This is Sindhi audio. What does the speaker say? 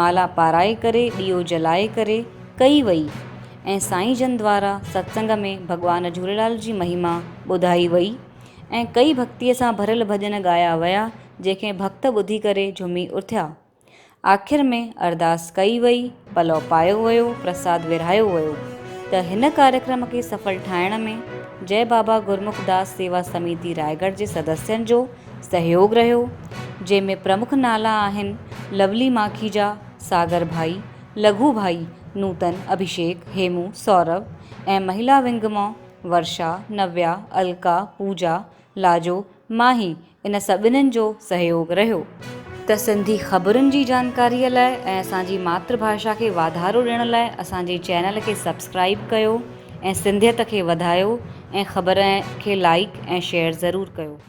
مالا پارائي ڪري ڏيئو جلائي ڪري ڪئي وئي ۽ سائين جن دوارا ستسنگ ۾ ڀڳوان جهوليلال جي مهيما ٻڌائي وئي ۽ ڪئي ڀڳتي سان ڀريل ڀڄن ڳايا ويا جنهن کي ڀڳت ٻڌي ڪري جهمي اٿيا آخر ۾ ارداس ڪئي وئي پلئو پايو ويو پرساد ورهايو ويو ته هن ڪاريڪرم کي سڦل ٺاهڻ ۾ جئه بابا گرمک داس سيوا سميتي رائگڙ جي سدسين جو سهيوڳ رهيو، جنهن ۾ پرمک نالا آهن، لولي ماکيجا، ساگر ڀائي، لگهو ڀائي، نوتن، اڀيشيڪ، هيمو، سورڀ ۽ مهيلا ونگ مان ورشا، نويا، الڪا، پوجا، لاجو، ماهي ان سڀنن جو سهيوڳ رهيو. ته سنڌي خبرن جي جانڪاري لاء ۽ اسان جي ماتر ڀاشا کي واڌارو ڏيڻ لاء اسان جي چينل کي سبسڪرائيب ڪيو ۽ سنڌيت کي وڌايو ۽ خبرن کي لائيڪ ۽ شيئر ضرور ڪيو.